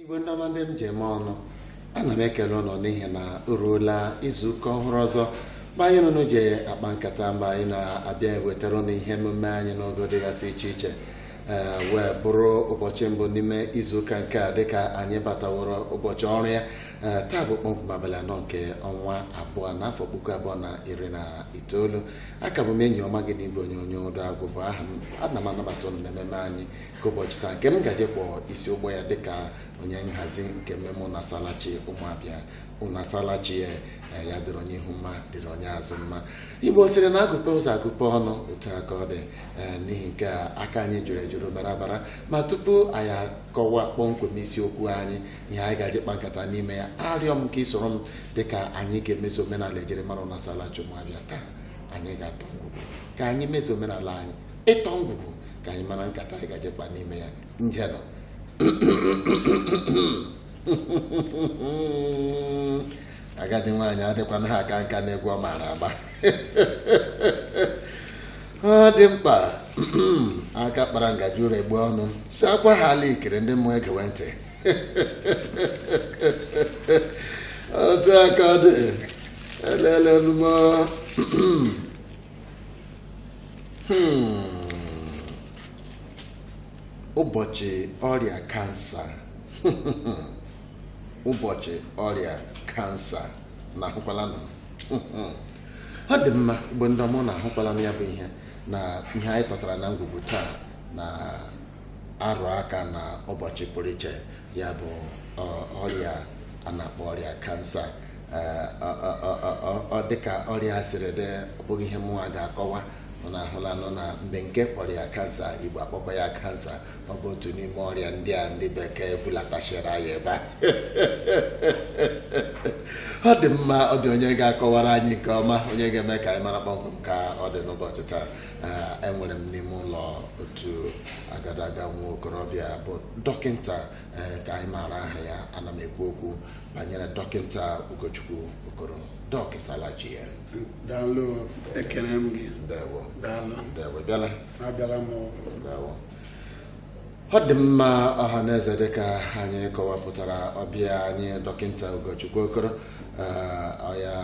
igwe ndị ọma ndị m ji eme ọnụ ana m ekele ụnụ n'ihi na o ruola izu ụka ọhụrụ ọzọ mgbe anyị na ụnụ ji akpa nkata mgbe anyị na-abịa ewetara ụnụ ihe emume anyị n'ogo dịgasị iche iche ee wee bụrụ ụbọchị mbụ n'ime izuụka nke a dịka anyị bataworo ụbọchị ọrụ ya ee taa bụ kpọmkwem abalị anọ nke ọnwa abụọ n'afọ puku abụọ na iri na itoolu aka bụ m enyi ọma gị n'igwe onyonyo Udo Agwụ bụ aha m ana m anabata ụnụ na ememe anyị ka ụbọchị taa nke m gaje ịkwọ isi ụgbọ ya dịka onye nhazi nke mmemme ụnasalachi ụmụabịa ụnasalachi ya eh, ya dịrị onye ihu mma dịrị onye azụ mma igbo sịrị na agụpe ụzọ agụpe ọnụ otu aka ọ dị eh, n'ihi nke a aka anyị juru ejuru bara abara ma tupu anyị akọwa kpọmkwem isiokwu anyị ihe anyị gaje ịkpa nkata n'ime ya arịọ m ka ị soro m dịka anyị ga-emezu omenala ejirimara ụnasalachi ụmụabịa taa anyị ga-atọ ngwugwu ka anyị mezu omenala anyị ịtọ ngwugwu ka anyị mara nkata anyị gaje ịkpa n'ime ya njenụ agadi nwaanyị adịkwana ha aka nka n'egwu ọ maara agba ọ dị mkpa aka kpara ngaji ụra egbu ọnụ si akwa ha ala ikiri ndị mmụọ egewe ntị otu aka ọ dị elele nụmọ Hmm. ụbọchị ọrịa kansa ụbọchị ọrịa kansa ụnụ ahụkwalanụ ọ dị mma igbo ndị ọma ụnụ ahụkwalanụ ya bụ ihe na ihe anyị tọtara na ngwugwu taa na arụ aka na ụbọchị pụrụ iche ya bụ ọrịa a na-akpọ ọrịa kansa ọ dịka ọrịa siri dị ọ bụghị ihe mụnwa ga-akọwa ụnụ ahụlanụ na bekee kpọrọ ya kansa igbo akpọkwa ya kansa ọ bụ otu n'ime ọrịa ndị a ndị bekee vulatachara anyị ebe a ọ dị mma ọ dị onye ga-akọwara anyị nke ọma onye ga-eme ka anyị mara kpọmkwem ka ọ dị n'ụbọchị taa enwere m n'ime ụlọ otu agadaga nwa okorobịa bụ dọkịnta eh, ka anyị maara aha ya ana m ekwu okwu banyere dọkịnta Ugochukwu Okoro dọk ịsalachi ya daalụ ekele m gị ndewo daalụ ndewo bịala abịala m ndewo ọ dị mma ọha na eze dịka anyị kọwapụtara ọbịa anyị dọkịnta Ugochukwu Okoro eh, ọya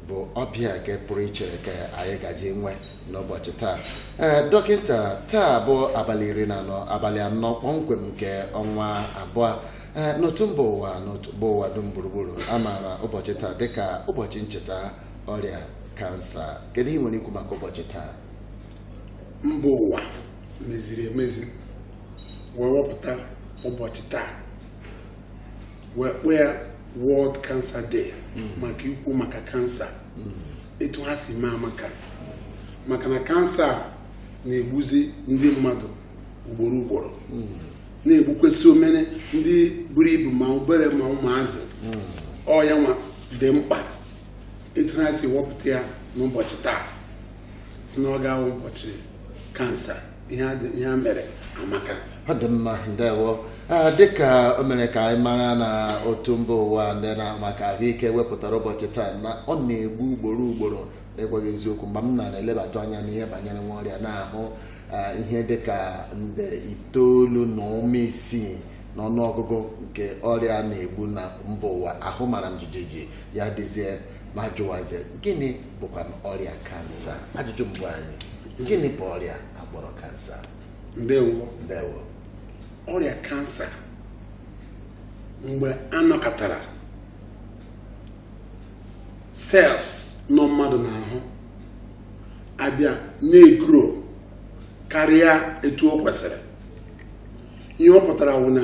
bụ ọbịa nke pụrụ iche ka anyị gaje inwe n'ụbọchị taa ee dọkịta taa bụ abalị iri na anọ abalị anọ kpọmkwem nke ọnwa abụọ ee n'otu mba ụwa n'otu mba ụwa dum gburugburu a maara ụbọchị taa dịka ụbọchị ncheta ọrịa kansa kedu ihe i nwere ikwu maka ụbọchị taa mba ụwa meziri emezi wee wepụta ụbọchị taa wee kpọọ ya World Cancer Day hmm. maka ikwu maka kansa hmm. etu ha si mee amaka maka na kansa na-egbuzi ndị mmadụ ugboro ugboro hmm. na-egbukwazi ma ndị buru ibu ma obere ma ụmụazị ọ ya nwa dị mkpa etu ha si wepụta ya n'ụbọchị taa sị na ọ ga-awụ ụbọchị kansa ihe a mere amaka ọ dị mma ndewo dịka o mere ka anyị mara na otu mba ụwa ndị na-ahụ maka ahụike wepụtara ụbọchị taa na ọ na-egbu ugboro ugboro na-agwa gị eziokwu mgbe m na-elebatụ anya n'ihe banyere nwa ọrịa na-ahụ ihe dịka nde itoolu na ụma isii n'ọnụọgụgụ nke ọrịa a na-egbu na mba ụwa ahụ mara m jijiji ya dịzie m ajụwazie gịnị bụkwa ọrịa kansa ajụjụ mbụ anyị gịnị bụ ọrịa a kpọrọ kansa ndewo ndewo ọrịa kansa mgbe a nọkatara cells nọ mmadụ n'ahụ abịa na-egrow karịa etu o kwesịrị ihe ọ pụtara wụ na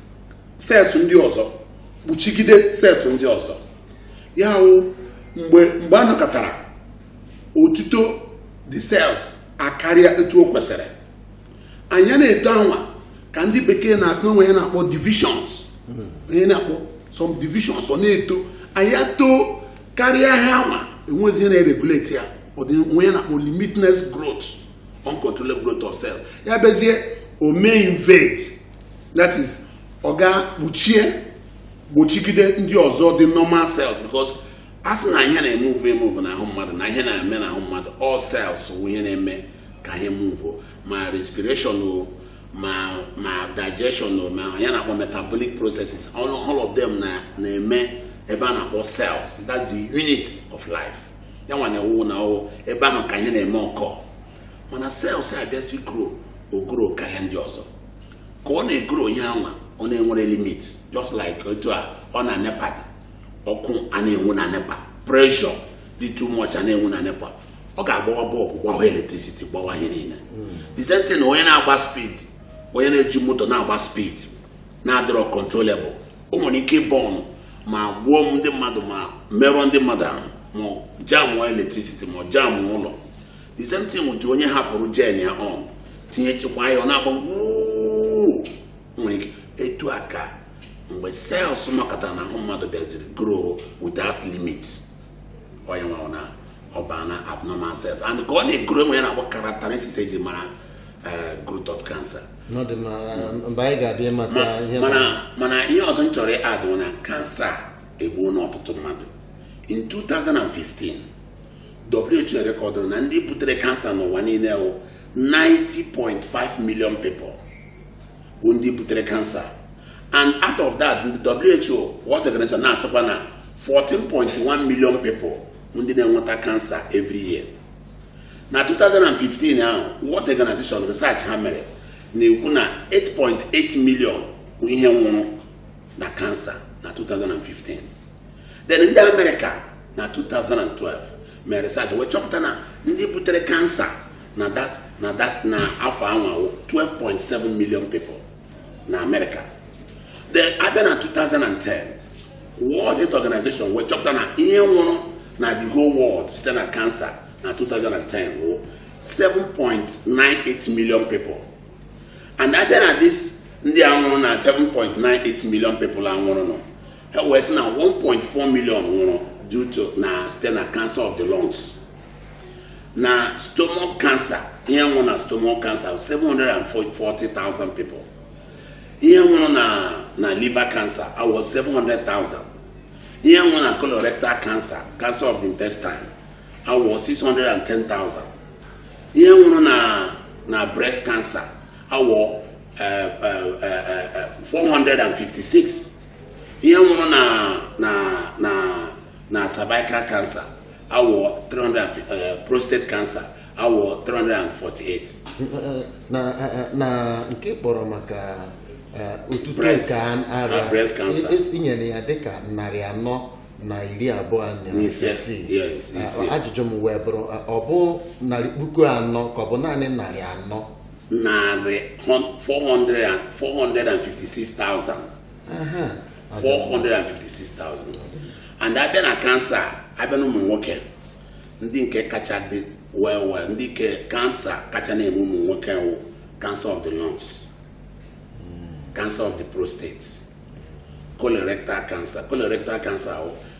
cells ndị ọzọ kpuchigide cells ndị ọzọ ya wụ mgbe mgbe a nọkatara otuto the cells akarịa etu o kwesịrị and ya na-eto anwa ka ndị bekee na-asị na o nwe ihe a na-akpọ divisions ihe a na-akpọ some divisions ọ na-eto and ya too karịa ha anwa enwezi ihe na-eregulate ya o nwe ihe a na-akpọ limitless growth uncontrollable growth of cells ya bịazie o mee invade that is ọ gaa kpuchie kpuchigide ndị ọzọ dị normal cells because a sị na ihe na-emove emove n'ahụ mmadụ na ihe na-eme n'ahụ mmadụ all cells wụ ihe na-eme ka ihe move ma respiration o ma ma digestion o ma ihe a na-akpọ metabolic processes all, all of them na na-eme ebe a na-akpọ cells that's the unit of life ya nwa na-awụ na ọ wụ ebe ahụ ka ihe na-eme occur mana sels abịazi grow o grow karịa ndị ọzọ ka ọ na-egro ihe anwa ọ na-enwere limit just like otu a ọ na nepa dị ọkụ a na-enwu na nepa pressure dị too much a na-enwu na nepa ọ ga-agbawa bọlbụ gbawa electricity gbawa ihe niile the same thing na onye na-agba speed onye na-eji moto na-agba speed na-adịrọ controllable o nwere ike bọọnụ ma gbuo ndị mmadụ ma merụọ ndị mmadụ ahụ ma jamụọ electricity ma jamụọ ụlọ the same thing with onye hapụrụ jen ya on tinyechekwa ya ọ na-agba nwere ike etu a ka mgbe sels makọtara na ahụ mmadụ bịaziri grow without limit onye nwa na ọ ba na abnormal cells and ka ọ na-egro e nwere ihe a na-akpọ characteristics eji mara eh, growth of cancer mana ihe ọzọ m chọrọ ịadụ na kansa egbuona ọtụtụ mmadụ in 2015 WHO rekọdụrụ na ndị butere kansa n'ụwa niile wụ 90.5 million people bụ ndị butere kansa and out of that the WHO World Organization na-asịkwa na 14.1 million people bụ ndị na-enweta kansa every year na 2015 ahụ World Organization research ha mere na-ekwu na 8.8 million bụ ihe nwụrụ na kansa na 2015 then ndị amerịka na 2012 mere research wee chọpụta na ndị butere kansa na that na that na afọ anwa wụ 12.7 million people na amerịka then a bịa na 2010 world health organization wee chọpụta na ihe nwụrụ na the whole world site na kansa na 2010 wụ 7.98 million people and a bịa na this ndị a nwụrụ na 7.98 million people a nwụrụnụ ha wee sị na 1.4 million nwụrụ due to na site na cancer of the lungs na stomach cancer ihe nwụrụ na stomach cancer 740,000 people ihe nwụrụ na na liver cancer wụ 700,000 ihe nwụrụ na colorectal cancer cancer of the intestine wụ 610,000 ihe nwụrụ na na breast cancer wụ eh, eh, eh, eh, eh, 456 ihe nwụrụ na na na na cervical cancer wụ 300 eh, prostate cancer wụ 348 na na nke ị kpọrọ maka eh, otuto nke ara i nyere ya dịka narị anọ na iri abụọ na isii ajụjụ m wee bụrụ ọ bụ narị puku anọ ka ọ bụ naanị narị anọ narị 456,000 456,000 and a bịa na kansa a bịa na ụmụ nwoke ndị nke kacha dị well well ndị ke kansa kacha na-eme ụmụ nwoke wụ cancer of the lungs cancer of the prostate colorectal cancer colorectal cancer wụ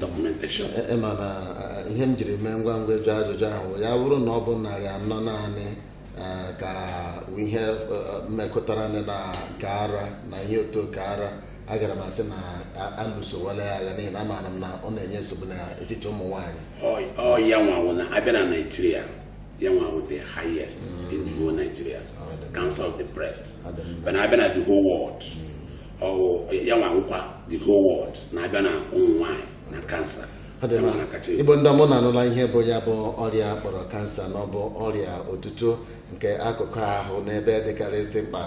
documentation e, e, mana e, ihe m jiri mee ngwa ngwa jụ ajụjụ ahụ ya bụrụ na ọ bụ narị anọ naanị ka ihe mekọtara na nke ara na ihe otu oke ara agara m asị na a lụsowala ya agha n'ihi na amaara m na ọ na-enye nsogbu n'etiti ụmụ nwaanyị ọ ya nwa wụ na a bịa na naijiria ya nwa wụ the highest mm. in the whole nigeria cancer of the breast mana a bịa na the whole world mm. ya nwa wụkwa the whole world na a bịa na ụmụ nwaanyị na kansa igbo ndị ọma unu anụla ihe bụ ya bụ ọrịa a kpọrọ kansa na ọ bụ ọrịa otuto nke akụkụ ahụ n'ebe dịkarịsị mkpa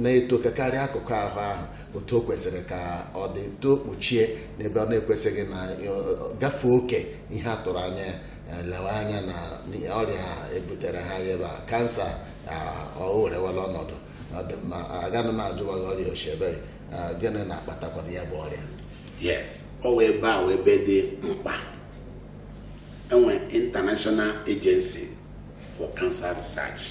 na-etokakarị akụkụ ahụ ahụ otu o kwesịrị ka ọ dị too kpuchie n'ebe ọ na-ekwesịghị na gafee oke ihe a tụrụ anya ya e lewe anya na ọrịa ebutere ha ebe a kansa o werewala ọnọdụ agaghị m ajụwa gị ọrịa ochebere gịnị na-akpatakwanụ ya bụ ọrịa yes ọ wụ ebe a wụ ebe dị mkpa e nwe international agency for cancer research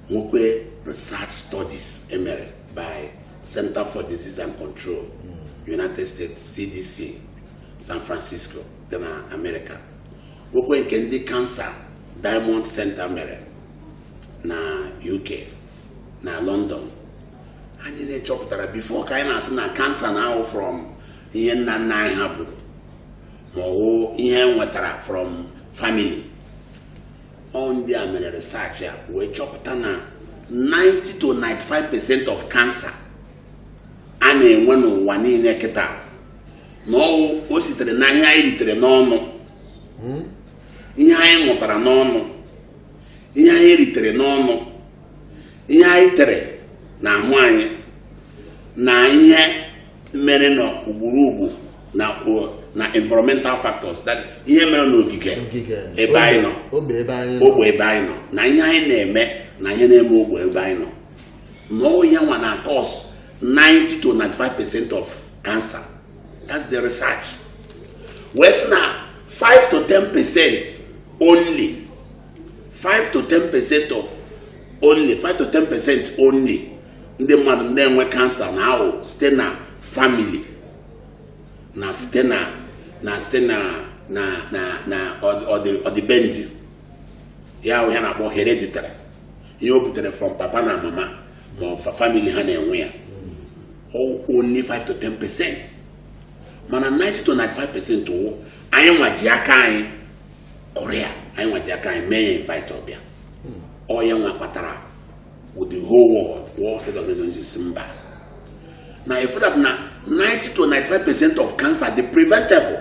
nwekwe research studies e mere by center for disease and control hmm. united states cdc san francisco dị na amerịka nwekwe nke ndị kansa diamond center mere na UK na London and ihe e chọpụtara before ka anyị na-asị na kansa na-awụ from ihe nna nna anyị hapụrụ ma ọ wụ ihe e nwetara from family ọ wụ ndị a mere research a wee chọpụta na 90 to 95 percent of cancer a na-enwe n'ụwa niile kịta na ọ wụ o sitere na ihe anyị ritere n'ọnụ hmm? ihe anyị ṅụtara n'ọnụ ihe anyị ritere n'ọnụ ihe anyị tere na ahụ anyị na ihe mere na gburugburu na environmental factors that ihe mere n'ogige ebe anyị nọ ogbe ebe anyị nọ na ihe anyị na-eme na ihe na-eme ogbe ebe anyị nọ na ọ wụ ya nwa na-acause 90 to 95 percent of cancer that's the research wee sị na 5 to 10 percent only 5 to 10 percent of only 5 to 10 percent only ndị mmadụ na-enwe cancer na ahụ site na family na site na na site na na na na ọdịbendị ya wụ ihe a na-akpọ hereditary ihe o butere from papa na mama ma ọ fa family ha na-enwe ya only 5 to 10 percent mana 90 to 95 percent wụ anyị nwa ji aka anyị kore ya anyị nwa ji aka anyị mee ya invite ọ bịa ọ ya nwa kpatara with the whole world world health organization ji sị mba na efu that na 90 to 95 percent of cancer dị preventable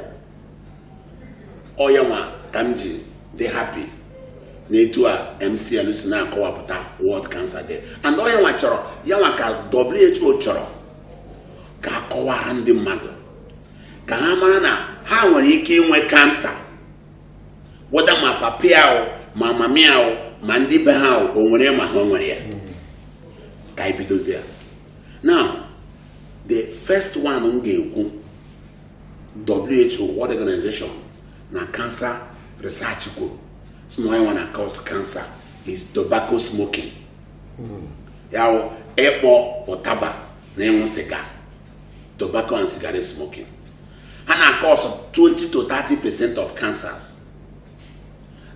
ọ ya nwa ka m ji dị happy na etu a MCL si na-akọwapụta World Cancer Day and ọ ya nwa chọrọ ya nwa ka WHO chọrọ ka a kọwaara ndị mmadụ ka ha mara na ha nwere ike inwe cancer whether ma papa ya o ma mama ya o ma ndị be ha o o nwere ma ha o nwere ya ka anyị bidozie ya now the first one m ga-ekwu WHO World Organization na Cancer Research kwuru sị na ihe nwa na-cause cancer is tobacco smoking ya wụ ịkpọ ụtaba na ịṅụ sịga tobacco and cigarette smoking ha na-cause 20 to 30 percent of cancers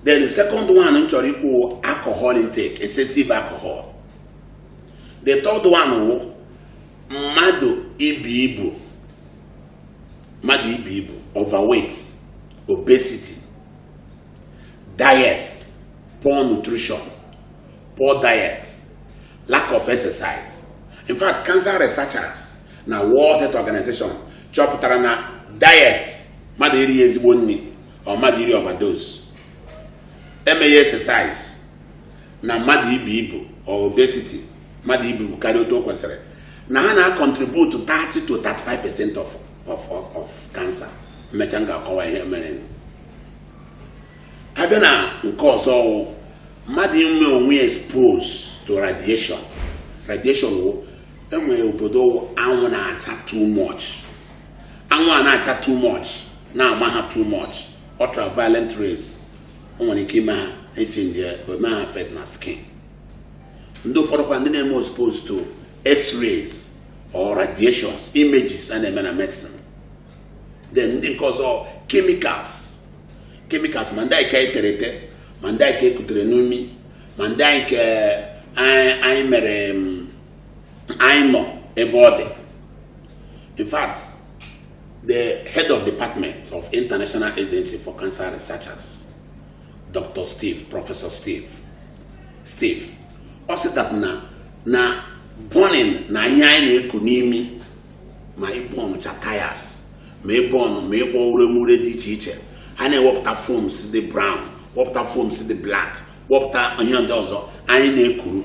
then the second one m chọrọ ikwu wụ alcohol intake excessive alcohol the third one wụ mmadụ ibu ibu mmadụ ibu ibu overweight obesity diet poor nutrition poor diet lack of exercise in fact cancer researchers na world health organization chọpụtara na diet mmadụ erighị ezigbo nri or mmadụ iri overdose emeghị exercise na mmadụ ibu ibu or obesity mmadụ ibu karịa otu o kwesịrị na ha na-acontribute 30 to 35 percent of of of of cancer m mechaa m ga-akọwa ihe mere a bịa na nke ọzọ wụ mmadụ ime onwe ya expose to radiation radiation wụ e nwere obodo anwụ na-acha too much anwụ a na-acha too much na-ama ha too much ultraviolet rays o nwere ike ime ha echange o mee ha affect na skin ndị ụfọdụ kwa ndị na-eme exposed to x-rays or radiations images a na-eme na medicine then ndị nke ọzọ chemicals chemicals ma ndị anyị ka etere ete ma ndị anyị ka ekutere n'imi ma ndị anyị ka anyị mere mm, anyị nọ ebe ọ dị in fact the head of department of international agency for cancer researchers Dr. Steve Prọfesọ Steve Steve ọ sị that na na burning na ihe anyị na-eku n'imi ma ịburncha tires ma ịburn ma ịkpọ uremure dị iche iche ha na-ewepụta fumes dị brown wepụta fumes dị black wepụta ihe ndị ọzọ anyị na-ekuru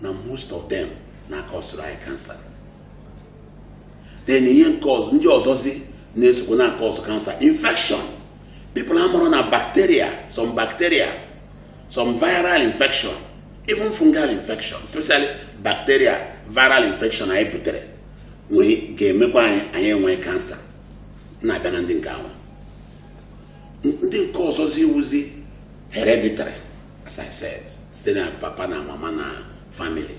na most of them na-akọsụrụ anyị kansa then ihe nke ọzọ ndị ọzọzi na-esokwa na-akọsụ kansa infection people amarọ na bacteria, some bacteria, some viral infection, even fungal infection, especially bacteria, viral infection anyị butere nwee ga-emekwa anyị anyị enwee kansa na-abịa na ndị nke ahụ ndị nke ọzọzi wụzi hereditary as I said site na papa na mama na family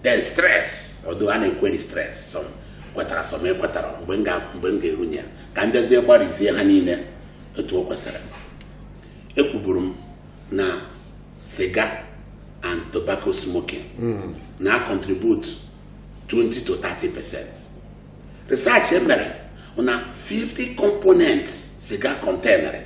then stress although a na-equery stress some kwetara some ekwetarọ mgbe m ga- mgbe m ga-erunye ya ka m bịazie gbarizie ha niile etu o kwesịrị ekwuburu m na siga and tobacco smoking na contribute 20 to 30 percent research e mere na 50 components siga containere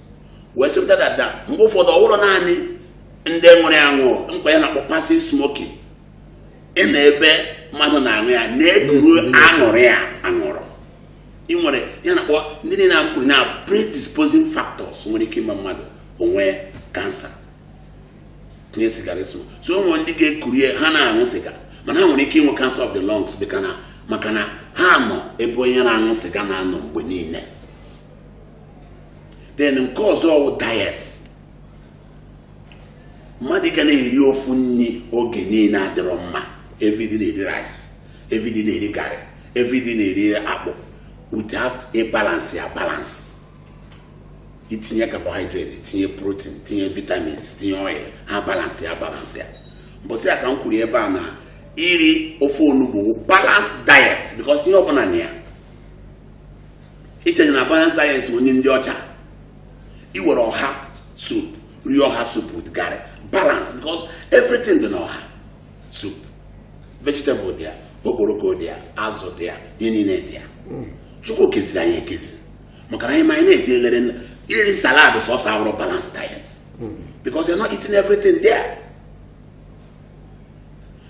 wee sịpụta dada mgbe ụfọdụ ọ bụrọ naanị ndị nwere aṅụ nkwa ya na-akpọ passive smoking ịnọ ebe mmadụ na-aṅụ ya na-ekuru anwụrụ ya anwụrụ ị nwere ya na-akpọ ndị niile na-akwuru na predisposing factors nwere ike ime mmadụ o nwee kansa tinye sigara so so ụmụ ndị ga-ekuru ya ha na-aṅụ siga mana ha nwere ike inwe cancer of the lungs maka na ha nọ ebe onye na-aṅụ siga na-anọ mgbe niile then nke ọzọ ọ wụ diet mmadụ ga na-eri ofu nri oge niile adịrọ mma everyday na-eri rice everyday na-eri garị everyday na-eri akpụ without ịbalance ya balance itinye carbohydrate itinye protein tinye vitamins tinye oil ha balance ya balance ya mbọsị a ka m kwuru ebe a na iri ofe onugbu wụ balance diet because ihe ọbụla na ya ichenye na balanced diet onye ndị ọcha iwere ọha soup rie ọha soup with garri balance because everything dị na ọha soup vegetable dị ya okporoko dị ya azụ dị ya ihe niile dị ya chukwu keziri anyị ekezi maka na anyị ma anyị na-eji elere nna- iri salad sọsọ awụrọ balance diet because you're not eating everything there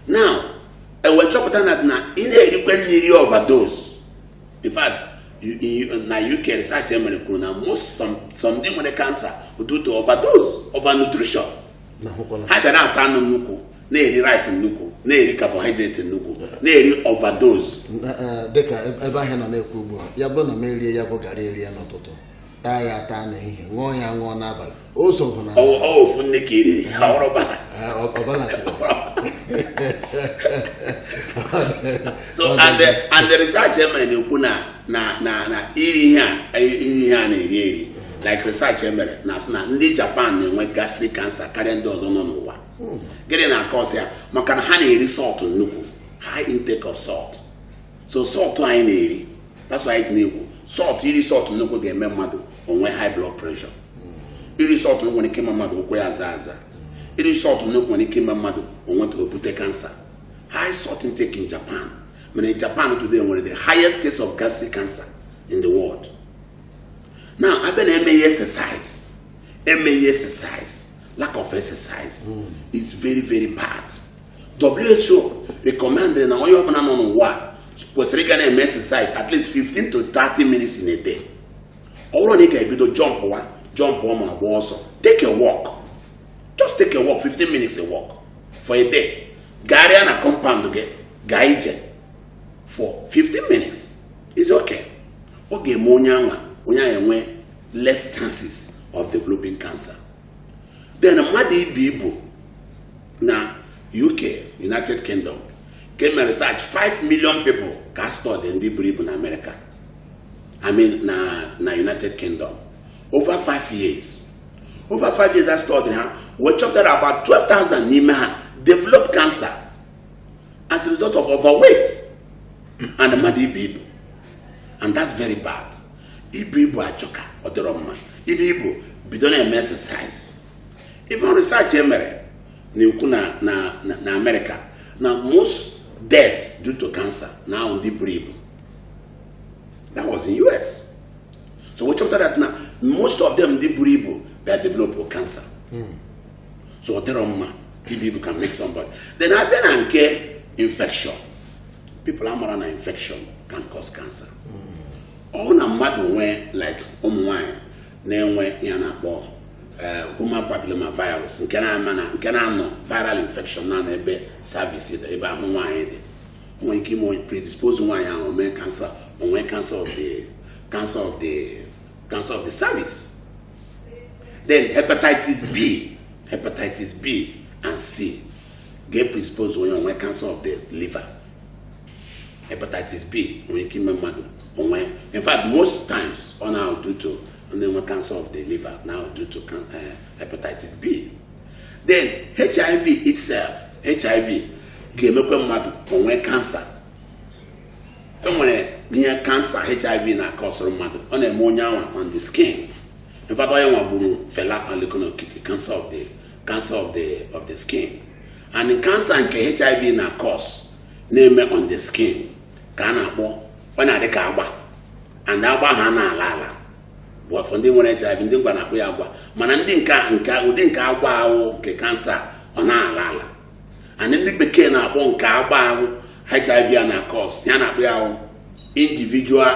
now e wee chọpụta na na ị na-erikwe nri overdose in fact na uk research e mere kwuru na most some ndị nwere cancer due to overdose overnutrition ha bịa na-ata anụ nnukwu na-eri rice nnukwu na-eri carbohydrate nnukwu na-eri overdose e, dịka e, ebe ahịa nọ na-ekwu ugbu a ya bụrụ na m erie ya bụ garri erie n'ụtụtụ taa ya ataa n'ehihie ṅụọ ya aṅụọ n'abalị o so na ọ ofu nni ka i riri ọ bụrọ balance so and the and the research e mere na-ekwu na na na na iri ihe a iri ihe a na-eri eri like research e mere na-asị na ndị japan na-enwe gastric cancer karịa ndị ọzọ nọ n'ụwa hmm. gịnị na-akọsị ya maka na ha na-eri salt nnukwu high intake of salt so salt anyị na-eri that's why anyị na-ekwu salt iri salt nnukwu ga-eme mmadụ o nwee high blood pressure iri salt nwere ike ime mmadụ ụkwụ ya aza aza iri salt nnukwu nwere ike ime mmadụ o nweta o bute cancer high salt intake in japan mana in japan today nwere the highest case of gastric cancer in the world now a bịa na emeghị exercise emeghị exercise lack of exercise is very very bad WHO recommended na onye ọbụla nọ n'ụwa kwesịrị ịga na-eme exercise at least 15 to 30 minutes in a day ọ bụrọ na ị ga-ebido jọmpụwa ajọmpụ ma gba ọsọ take a walk just take a walk 15 minutes a walk for a day gagharịa na compound gị gaa ije for 15 minutes is okay ọ ga-eme onye anwa onye ahụ enwe less chances of developing cancer then mmadụ ibu ibu na uk united kingdom ka e mere research 5 million people ka a study ndị buru ibu na amerịka i mean na na united kingdom over 5 years over 5 years a study ha wee chọpụta that about 12,000 n'ime ha develop cancer as a result of overweight and mmadụ ibu ibu and that's very bad ibu ibu ajọka ọ dịrọ mma ibu ibu bido na-eme exercise even research e mere na-ekwu na na na Amerịka na most deaths due to cancer na-abụ ndị buru ibu that was in US so e wee chọpụta that na most of them ndị buru ibu bịa develop cancer hmm. so ọ dịrọ mma ibu ibu can make somebody then a bịa na nke infection people amarọ na infection can cause cancer ọ bụrụ na mmadụ nwee like ụmụ nwaanyị na-enwe ihe a na-akpọ eh, human papilloma virus nke na-ama na nke na-anọ viral infection na ebe cervix dị ebe ahụ nwaanyị dị nwee ike ime predispose nwaanyị ahụ mee cancer o nwee cancer of the cancer of the cancer of the cervix then hepatitis b hepatitis b and c ga-predispose onye o nwee cancer of the liver hepatitis B nwere ike ime mmadụ o nwee in fact most times ọ na due to na-enwe cancer of the liver na due to eh, hepatitis B then HIV itself HIV ga-emekwa mmadụ o nwee cancer e nwere ihe cancer hiv na-akọsụrụ mmadụ ọ na-eme onye anwa on the skin in fact ihe nwa gburu Fela Anikulapo Kuti cancer of the cancer of the of the skin and cancer nke hiv na-acause na-eme on the skin ka a na-akpọ ọ na-adị ka agba and agba ha na-ala ala bụ for ndị nwere HIV ndị ngwa na-akpọ ya agwa mana ndị nke nke ụdị nke agwa ahụ nke cancer ọ na-ala ala and ndị bekee na-akpọ nke agba ahụ HIV a na-acause ihe a na-akpọ ya wụ individual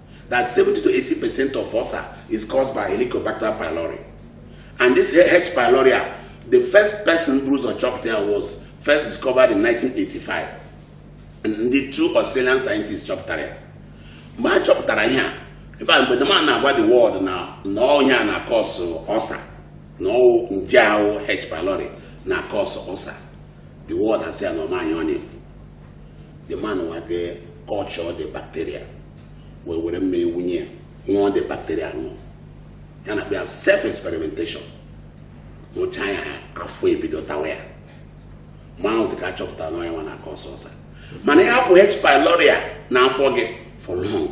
that 70 to 80 percent of ulcer is caused by Helicobacter pylori. And this H. pylori, the first person buru ụzọ chọpụta ya was first discovered in 1985. And the two Australian scientists chọpụtara ya. Mgbe a chọpụtara ihe a, in fact, mgbe the man na-agwa the world na na ọ ihe a na-acause ulcer na ọ wụ nje ahụ H. pylori na-acause ulcer. The world asị na ọ ma ihe ọ na-ekwu. the man nwa jee culture the bacteria wee were mmiri wunye ya ṅụọ the bacteria ṅụọ ya na-abụ self experimentation ṅụcha ya afọ ebido tawa ya mgbe ahụzi ka a chọpụtara na ọ ihe nwa na-acause ulcer mana ya hapụ h pylori a n'afọ gị for long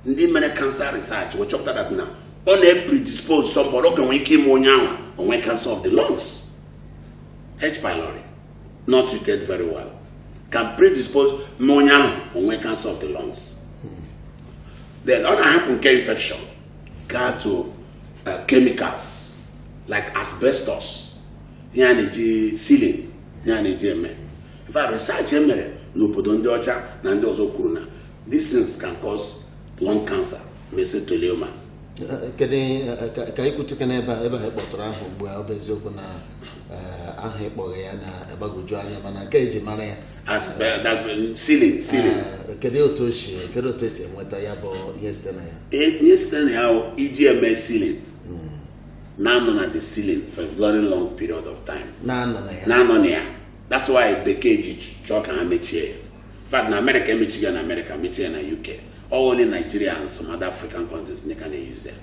ndị mere cancer research wee chọpụta that na ọ na-epredispose somebody ọ ga-enwe ike ime onye ahụ o nwee cancer of the lungs h pylori not treated very well can predispose mee onye ahụ o nwee cancer of the lungs then ọ na a hapụ nke infection gaa to uh, chemicals like asbestos ihe a na-eji ceiling ihe a na-eji eme in fact research e mere n'obodo ndị ọcha na ndị ọzọ kwuru na these things can cause lung cancer mesothelioma kedu ka anyị kwutukwa n'ebe a ebe ha kpọtụrụ aha ugbu a ọ bụ eziokwu na aha ị kpọrọ ya na-agbagwoju anya mana nke e ji mara ya kedu otu o si kedu otu e si enweta ya bụ ihe site na ya ihe site na ya e ji eme ceiling hmm. na-anọ na the ceiling for a very long period of time na-anọ na ya that's why bekee ji chọọ ka ha mechie ya fact na amerịka emechigo ya na amerịka mechie ya na uk only nigeria and some other african countries ka na-use ya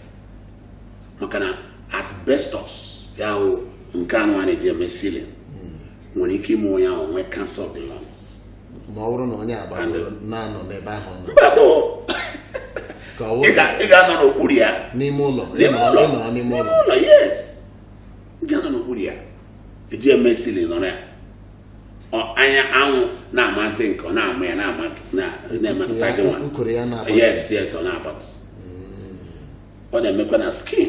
maka na asbestos ahụ nke anụ a na-eji eme ceiling nwere ike ime onye ahụ nwee cancer of the lungs ma ọ bụrụ na onye agbata na-anọ n'ebe ahụ nọ mmadụ ka ọ ị wụrụ ga- ị ga-anọ n'okpuru ya n'ime ụlọ N'ime ịnọrọ ụlọ. ịnọrọ n'ime N'ime ụlọ ụlọ yes ị ga-anọ n'okpuru ya eji eme ceiling nọrọ ya anya anwụ na-amasi ike ọ na-ama ya na-emetụta gị nwa yes yes ọ na-abatụ ọ na-emekwa na skin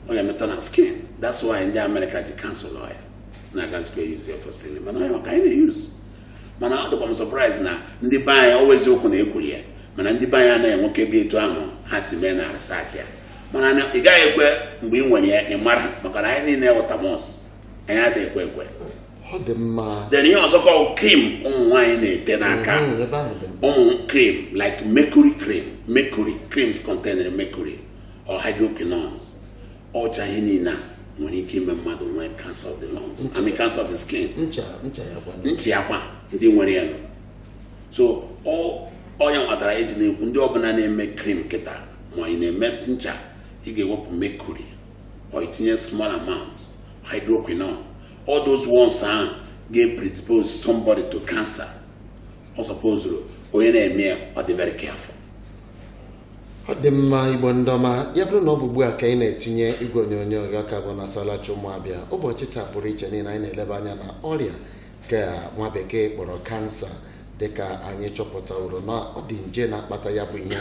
ọ na-emetọ na skin that's why ndị amerịka ji cancel ya na agaghịkwa e-use ya for ceiling mana ọ ka anyị na-use mana ọ dịkwa m surprise na ndị be anyị ọ wụ eziokwu na-ekwuli ya mana ndị be anyị anaghị enweke ebe etu ahụ ha si mee na research ya mana ị gaghị ekwe mgbe ị nwere ya ị mara maka na anyị niile wụ thomas anyị adịghị ekwe ekwe ọ dị mma then ihe ọzọkwa bụ cream ụmụ nwaanyị na-ete n'aka Mm, ebe ahụ dị mma. ụmụ cream like mercury cream mercury creams contain mercury or hydroquinones ọ wụcha ihe niile a nwere ike ime mmadụ nwee cancer of the lungs I mean cancer of the skin ncha ncha ya kwa ndị nwere ya nọ. so ọ- ọ ya wetara eji na-ekwu ndị ọbụla na-eme cream kịta ma ị na-eme ncha ị ga-ewepụ mercury or itinye small amount hydroquinone all those ones ahụ ga-predispose somebody to cancer ọ supposuru onye na-eme ya ọ dị very careful ọ dị mma igbo ndị ọma ya bụrụ na ọ bụ ugbu a ka anyị na-etinye igwe onyonyo gị ọ ka bụ na salachi ụmụ abịa ụbọchị taa pụrụ iche n'ihi na anyị na-eleba anya na ọrịa nke a nwa bekee kpọrọ kansa dịka anyị chọpụtaworo na ọ dị nje na-akpata ya bụ ihe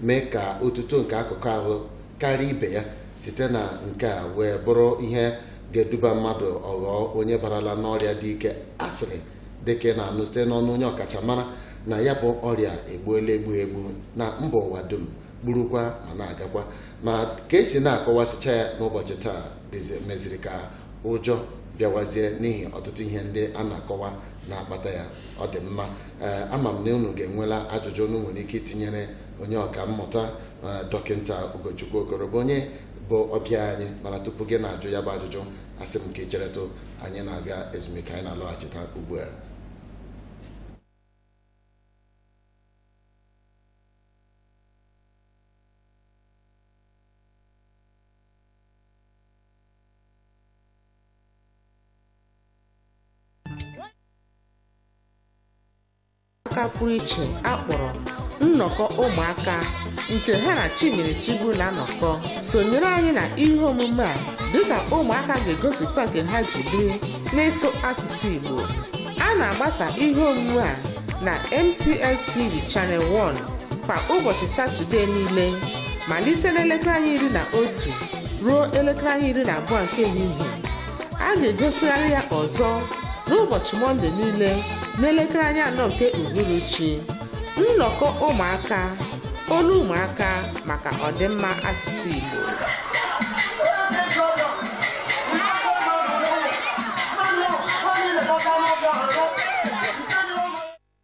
mee ka otuto nke akụkụ ahụ karịa ibe ya site na nke a wee bụrụ ihe ga-eduba mmadụ ọ ghọọ onye barala n'ọrịa dị ike a sịrị dịka ị na-anụ site n'ọnụ onye ọkachamara na ya bụ ọrịa egbuola egbu egbu na mba ụwa dum gburukwa ma na-agakwa ma ka esi na-akọwasịcha ya n'ụbọchị taa meziri ka ụjọ bịawazie n'ihi ọtụtụ ihe ndị a na-akọwa na-akpata ya ọ dị mma ee ama m na unu ga-enwela ajụjụ unu nwere ike itinyere onye ọka mmụta ee, dọkịta Ugochukwu Okoro bụ onye bụ ọbịa anyị mana tupu gị na-ajụ ya bụ ajụjụ asị m ka ị cheretụ anyị na-aga ezumike anyị na-alọghachita ugbu a aka pụrụ iche a kpọrọ nnọkọ ụmụaka nke ha na Chinyere Chiburu na-anọkọ sonyere anyị na ihe omume a dịka ụmụaka ga-egosipụta nke ha ji biri n'ịsụ asụsụ Igbo a na-agbasa ihe omume a na MCL TV Channel 1 kwa ụbọchị Satọdee niile malite n'elekere anya iri na otu ruo elekere anya iri na abụọ nke ehihie a ga-egosigharị ya ọzọ n'ụbọchị mọnde niile n'elekere anya anọ nke uhuruchi nnọkọ ụmụaka olu ụmụaka maka ọdịmma asụsụ igbo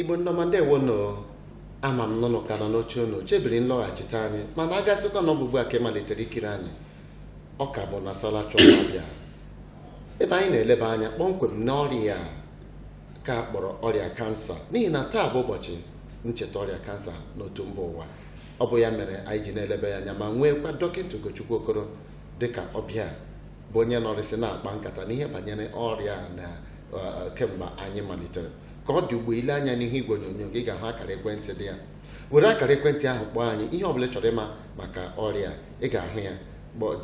igbo ndị ọma ndewo nụ ama m na unu ka nọ n'oche unu chebiri nlọghachite anyị mana a ga-asịkwa na ọ bụ ugbu a ka ị malitere ikiri anyị ọ ka bụ na sala chọwa Abịa ebe anyị na-eleba anya kpọmkwem n'ọrịa a ka a kpọrọ ọrịa kansa n'ihi na taa bụ ụbọchị ncheta ọrịa kansa n'otu mba ụwa ọ bụ ya mere anyị ji na-eleba ya anya ma nweekwa dọkịta Ugochukwu Okoro dịka ọbịa bụ onye nọrịsị na-akpa nkata n'ihe banyere ọrịa na kemgbe anyị malitere ka ọ dị ugbu a i lee anya n'ihu igwe onyonyo gị ị ga-ahụ akara ekwentị dị ya were akara ekwentị ahụ kpọọ anyị ihe ọbụla ị chọrọ ịma maka ọrịa ị ga-ahụ ya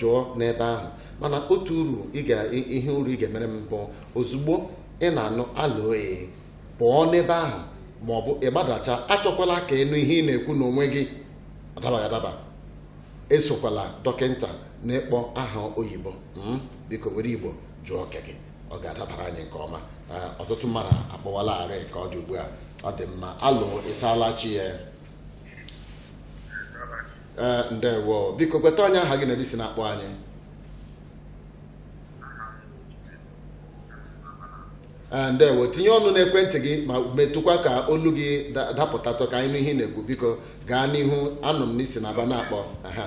jụọ n'ebe ahụ mana otu uru ihe uru ị ga-emere m bụ ozugbo ị na-anụ alo ee pụọ n'ebe ahụ ma ọ bụ ị gbadachaa achọkwala ka ị nụ ihe ị na-ekwu n'onwe gị ọ dabaghị adaba esokwala dọkịnta na-akpọ aha oyibo mm, biko were igbo jụọ nke gị ọ ga-adabara anyị nke ọma Ee, ọtụtụ mmadụ akpọwalarị ka ọ dị ugbu a ọ dị mma alo ị saala chi ya Ee, ndewo biko gwatụ anyị aha gị na ebe i si na-akpọ anyị Eh, ndewo tinye ọnụ n'ekwentị gị ma metụkwa ka olu gị da- dapụtatụ ka anyị nụ ihe ị na-ekwu biko gaa n'ihu anụ m na i si na Aba na-akpọ aha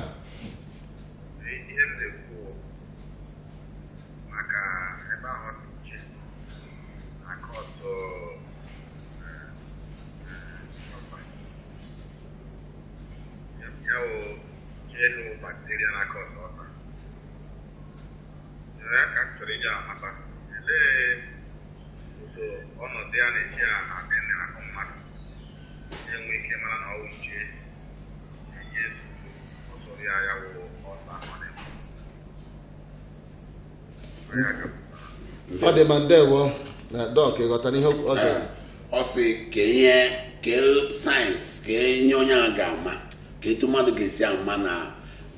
ihe m na-ekwu maka ebe ahụ dị iche aka ọtọ ya wụ jenu bakteria na aka ọtọ ọta ọ dị mma ndewo na dọk ị ghọtara ihe ọ jụrụ ọ sị kee ihe kee signs kee ihe onye ahụ ga-ama ka etu mmadụ ga-esi ama na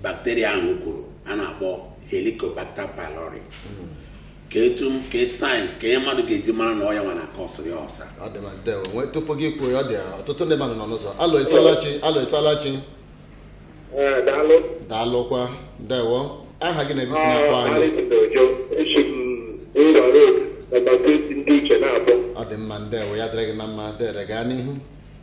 bacteria ahụ kwuru a na-akpọ helicobacter pylori hmm. ka etu ka etu signs ka ihe mmadụ ga-eji mara na ọ ya nwa na-akọsịrị ya ulcer tupu gị kwuo ya ọ dị ọtụtụ ndị mmadụ nọ n'ụzọ alo ị saala chi alo ị saala chi eh, daalụkwa ndewo aha gị na ebe i si na-akpọ anyị ọ dị mma ndewo ya dịrị gị na mma dere gaa n'ihu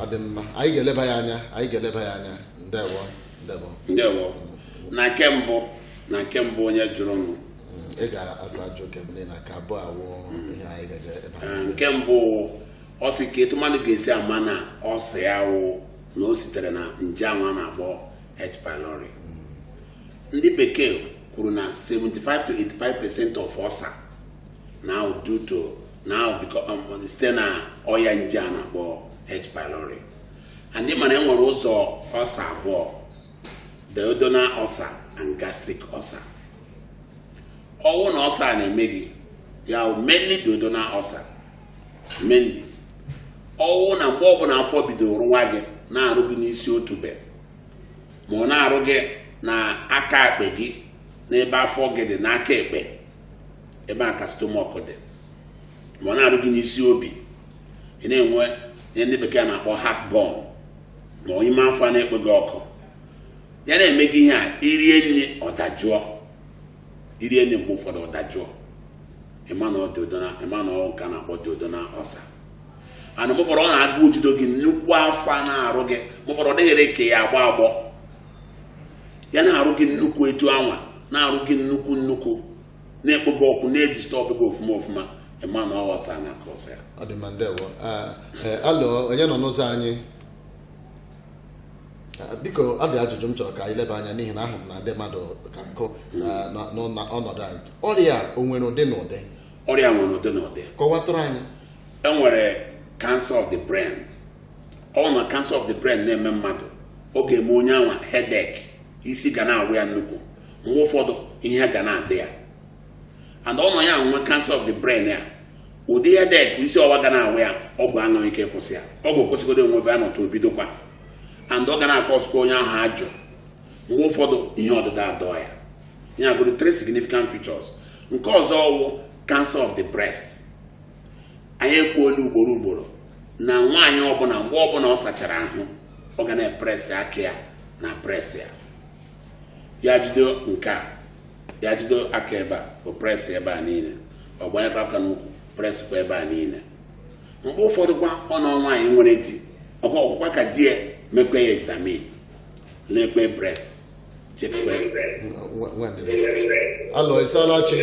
ọ dị mma anyị ga-eleba ya anya anyị ga-eleba ya anya ndewo ndewo ndewo na nke mbụ na nke mbụ onye jụrụ nụ ị ga-asa ajụjụ nke mbụ na nke abụọ awụ ihe anyị ga-eje ebe a. Eh, nke mbụ ọ sị ka etu mmadụ ga-esi ama na ulcer ya wụ na o sitere na nje anwa na-akpọ H. pylori ndị bekee kwuru na 75 to 85 percent of ulcer na-awụ due to na um, site na ọya nje a na-akpọ H. pylori and mana enwere ụzọ ulcer abụọ duodenal ulcer and gastric ulcer ọwụ na ulcer na-eme gị ya wụ mainly duodenal ulcer mainly ọwụ na mgbe ọbụla afọ bidoro rụwa gị na-arụ gị n'isi otube ma ọ na-arụ gị na aka ekpe gị n'ebe afọ gị dị n'aka ekpe ebe a ka stomach dị ma ọ na-arụ gị n'isi obi ị na-enwe ihe ndị bekee na-akpọ heartburn ma ọ ime afọ na-ekpe gị ọkụ ya na-eme gị ihe a i rie nri ọ dajụọ i rie nri mgbe ụfọdụ ọ dajụọ ị ma na ọ duodenal ị ma na ọ nke a na-akpọ duodenal ulcer and mgbe ụfọdụ ọ na agụụ jido gị nnukwu afọ a na-arụ gị mgbe ụfọdụ ọ dịrị gị ka ya agba agbọ ya na-arụ gị nnukwu etu anwa na-arụ gị nnukwu nnukwu na-ekpo gị ọkụ na-edisturb gị ọfụma ọfụma ị ma na ọ ulcer na-akọsị ya ọ dị mma ndewo Ah, eh, alo onye nọ n'ụzọ anyị Ah, biko ọ dị ajụjụ m chọrọ ka anyị leba anya n'ihi na ahụ m na ndị mmadụ ka nkụ ah, nọ- nọ na ọnọdụ anyị ọrịa a, o nwere ụdị na ụdị ọrịa nwere ụdị na ụdị kọwatụrụ anyị enwere cancer of the brain ọ na cancer of the brain na-eme mmadụ ọ ga-eme onye anwa headache isi ga na-awa ya nnukwu mgbe ụfọdụ ihe ya ga na-adị ya and ọ nọ ya nwe cancer of the brain ya ụdị headache isi ọwa ga na-awa ya ọgwụ anaghị akwụsị ya ọgwụ kwụsịgodo enwebe ya nọtụ o bidokwa and ọ ga na-akọsikwa onye ahụ ajụ mgbe ụfọdụ ihe ọdụdọ adọọ ya ya bụrụ three significant features nke ọzọ ọwụ cancer of the breast anyị ekwuola ugboro ugboro na nwaanyị ọbụla mgbe ọbụla ọ sachara ahụ ọ ga na-epress aka ya na breast ya ya jide nke a ya jide aka ebe a ọ press ebe a niile ọ gbanyekwa aka n'ukwu presskwa ebe a niile mgbe ụfọdụkwa ọ na nwaanyị nwere di ọkwa ọkwụkwa ka di ya mekwa ya examine lekwe breast checkwe alo ị saala chi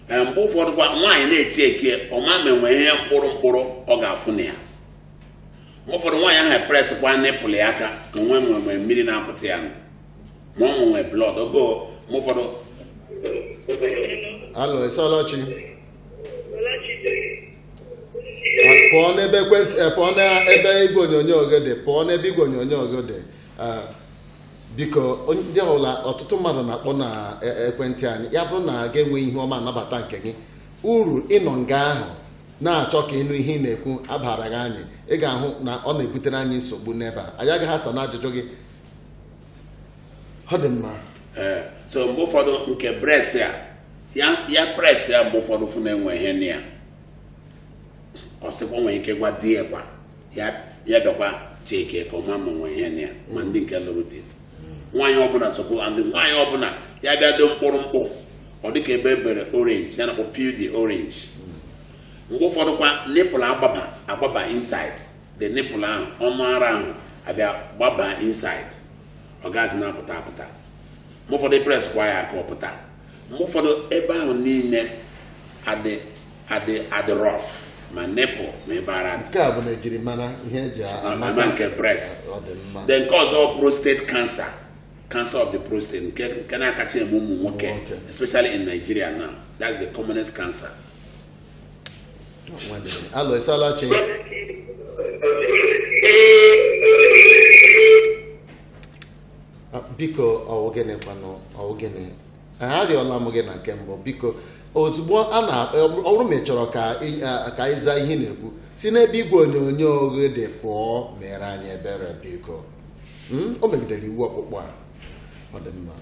Ee, mgbe ụfọdụkwa nwaanyị na-echeck ọ ma ma e nwe ihe mkpụrụ mkpụrụ ọ ga-afụ na ya ụfọdụ nwaanyị ahụ epress kwa nipple ya aka ka nwe nwere mmiri na-apụta ya nụ ma ọ nwee blood ogo mgbe ụfọdụ alo ị saala chi pụọ n'ebe ekwentị eh, pụọ n'ebe igwe onyonyo gị dị pụọ n'ebe igwe onyonyo gị dị Ah, biko onye- ndị ọbụla ọtụtụ mmadụ na-akpọ na eh, ekwentị anyị ya bụrụ na a ga-enwe ihu ọma a nabata nke gị uru ịnọ nga ahụ na-achọ ka ị nụ ihe ị na-ekwu abaraghị anyị ị ga-ahụ na ọ na-ebutere anyị nsogbu n'ebe a anyị agaghị asa na ajụjụ gị ọ dị mma ee so mgbe ụfọdụ nke breast a ya ya press ya mgbe ụfọdụ fụ na e nwe ihe na ya ọ sịkwa nwere ike gwa di ya kwa ya ya bịakwa checkie ka ọ ma ma e nwee ihe na ya ma ndị nke lụrụ di nwaanyị ọbụla sokwu and nwaanyị ọbụla ya bịa do mkpụrụ mkpụ ọ dịka ebe e bere orange ya na-akpọ peau d'orange mgbe ụfọdụ kwa nipple agbaba agbaba inside the nipple ahụ ọnụ ara ahụ abịa gbaba inside ọ gaghịzi na-apụta apụta mgbe ụfọdụ press kwa ya ka ọ pụta mgbe ụfọdụ ebe ahụ niile adị adị adị rough ma nipple ma ebe ara dị nke a bụ njirimara ihe e ji ama nke breast ọ dị mma then nke ọzọ prostate cancer cancer of the prostate nke nke na-akacha eme ụmụ nwoke especially in Nigeria now that's the commonest cancer alo ị saala chi Ah, biko ọ wụ gịnị kwanụ ọ wụ gịnị arịọla m gị na nke mbụ biko ozugbo a na ọ bụrụ ma ị chọrọ ka ị- ah, ka ịza ihe ị na-ekwu si n'ebe igwe onyonyo gị dị pụọ mere anyị ebere biko Hmm? o megidere iwu ọkpụkpọ a ọ dị mma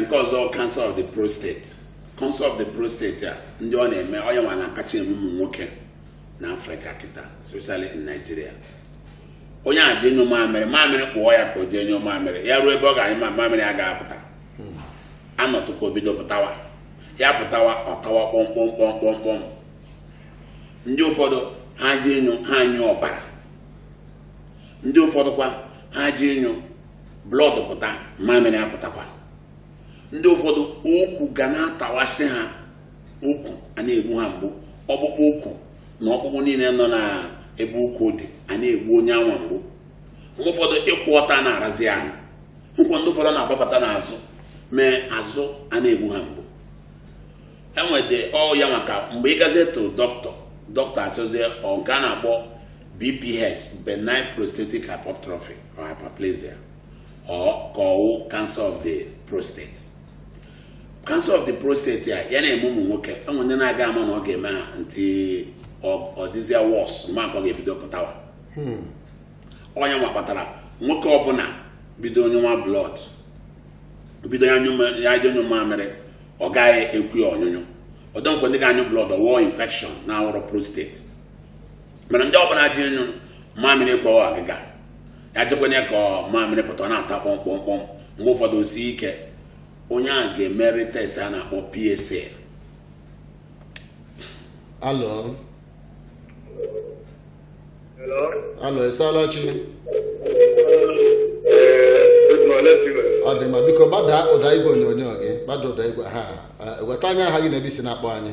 nke ọzọ cancer of the prostate cancer of the prostate a ndị ọ na-eme ọ yanwa na-akacha eme ụmụ nwoke na Africa kịta especially in Nigeria onye a jee nyụ mamịrị mamịrị kpa ya ka o jee nyụ mamịrị ya ruo ebe ọ ga-anyụ ma mamịrị ya ga-apụta hmm. a nọtụ ka o bido pụtawa ya pụtawa ọ tawa kpọmkpọmkpọmkpọmkpọm ndị ụfọdụ ha jee nyụ ha nyụ ọbara ndị ụfọdụkwa ha je ịnyụ blood pụta mamịrị apụtakwa ndị ụfọdụ ukwu ga na-atawasị ha ukwu a na-egbu ha mgbu ọkpụkpụ ukwu na ọkpụkpụ niile nọ na ebe ukwu dị a na-egbu onye anwa mgbu mgbe ụfọdụ ịkwụ ọtọ a na-arazi ahụ nke ndị ụfọdụ na-agbafata n'azụ mee azụ a na-egbu ha mgbu and ọ ya mere ka mgbe ị gazie to doctor doctor asịzie ọ nke a na-akpọ BPH benign prostatic hypertrophy or hyperplasia or ka ọ wụ cancer of the prostate cancer of the prostate a ya na-eme ụmụ nwoke e nwee ndị na-aga ama na ọ ga-eme ha until ọ dịzịa worse ma ọ ga-ebido pụtawa hmm. ọ ya nwa kpatara nwoke ọbụla bido nyụwa blood bido ya achọọ ịnyụ mamịrị ọ gaghị ekwe ya ọnyụnyụ although e nwee ndị ga-anyụ blood ọ wụọ infection na-awụrọ prostate mana ndị ọbụla je ịnyụ mamịrị gbawa agịga ya jekwenye ka mamịrị pụta ọ na-ata kpọm kpọm kpọm mgbe ụfọdụ o sie ike onye ahụ ga-emeri test a na-akpọ PSA hello hello ị saala chi ọ dị mma biko gbada ụda igwe onyonyo gị gbada ụda igwe ahụ chetara anyị aha gị na ebe i si na-akpọ anyị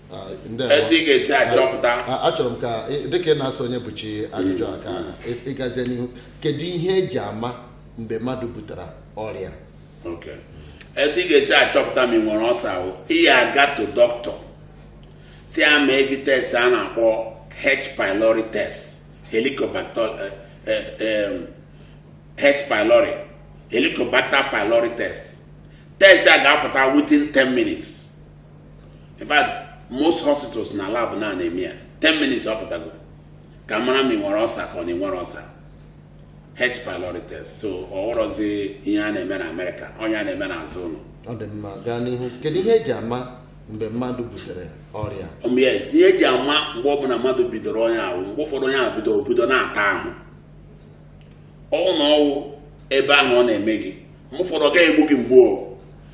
etu ị ga-esi achọpụta achọrọ m ka dịka ị na-asa Onyebuchi ajụjụ a ka ị gazie n'ihu kedu ihe e ji ama mgbe mmadụ butere ọrịa etu ị ga-esi achọpụta ma ị nwere ulcer wụ ị ya-aga to doctor sị ya mee gị test a na-akpọ H pylori test helicobacter eh, eh, eh, H pylori helicobacter pylori test test a ga-apụta within 10 minutes in fact most hospitals na lab na na-eme ya 10 minutes ọ pụtago ka a mara ma ị nwere ulcer ka ọ na i nwerọ ulcer H pylori test so ọ wụrọzi ihe a na-eme na America ọ ihe a na-eme n'azụ ụlọ ọ dị mma gaa n'ihu kedu ihe e ji ama mgbe mmadụ butere ọrịa um, yes ihe e ji ama mgbe ọbụla mmadụ bidoro onye ahụ mgbe ụfọdụ onye ahụ bido o bido na-ata ahụ ọ wụ na ọ wụ ebe ahụ ọ na-eme gị mgbe ụfọdụ ọ gaghị egbu gị mgbe